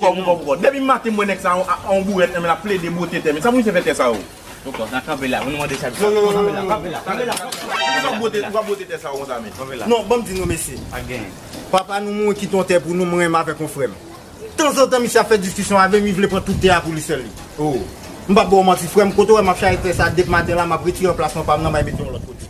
Kom kom kom. Depi maten m wè nèg sa a yon bourèt nan men lap plede bwote tè men. Sa pou misye fè tè sa yo? Bon kòm nan kanpe la pou nou mande chak jou. Yo yo yo kanpe la kanpe la kanpe la. Poukisa ou pral bwote tè sa yo konsa men? Kanpe la. Non banm di nou mesye. Pa gen. Papa nou mouri kite yon tè pou nou mwen menm avèk yon frèm. Tanzantan misye ap fè diskisyon avèm li vle pran tout tè a pou li sèl li. Oh. M pap baw manti frèm kote ou wè map chaje tè sa dep maten la map retire anplasman pam nan may mete yon lòt kote.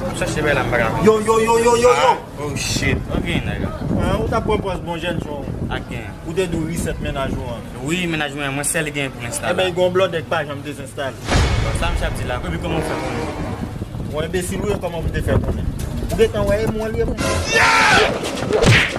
Map chache bay la m paka jwenn. Yo yo yo yo yo yo. Oh shit ok nèg la. An ou ta pran pòz bon jèn jan ou. Ak gen. Ou te dwe reset mennaj ou an. Wi mennaj mwen an mwen sèl gen pou ensta la. Ebyen gon blòdè k pa janm dezenstale. Bon sa misye ap di la epi kòman ou fè konnen. Ou enbesil ou ye kòman pou te fè konnen. Ou gentan wè e mwen li e mwen. Yeah!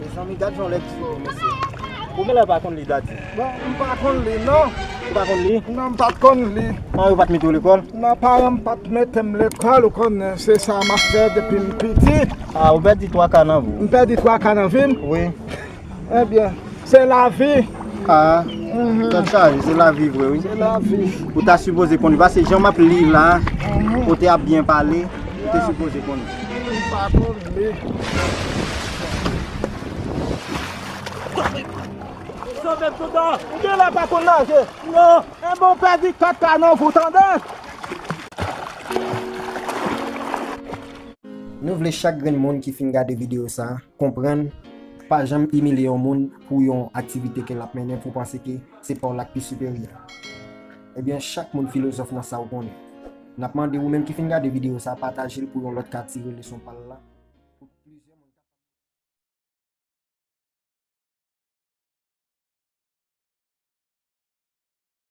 Mezanmi gad jan lèd di yo mesye. Ou genlè pa konn li dady? Non m pa konn li non. Ou pa konn li? Non m pa konn li. Paran yo pat mete w lekòl? Non paran m pat mete m lekòl ou konnen se sa m ap fè depi m piti. Ah ou pèdi 3 ka nan vi w? M pèdi 3 ka nan vi m? Wi. Ebyen. Se lavi. Aah tèt chaje se lavi vre wi. Se lavi. Ou ta sipoze konnen pase jan map li la kote ap byen pale ou te sipoze konnen. Mwen pa konn li. Sovem toutan. Ou gen lè pa konn naje. Non. Enben ou pèdi 4 kanon vou tande. Nou vle chak grenn moun ki fin gade video sa konprann Pa janm imilye yon moun pou yon aktivite ke lap mennen pou panse ke se paw lap pi siperyè. Ebyen chak moun filozòf nan sa ou konnen. Nap mande ou menm ki fin gade video sa patajel pou yon lòt ka tire leson pal la.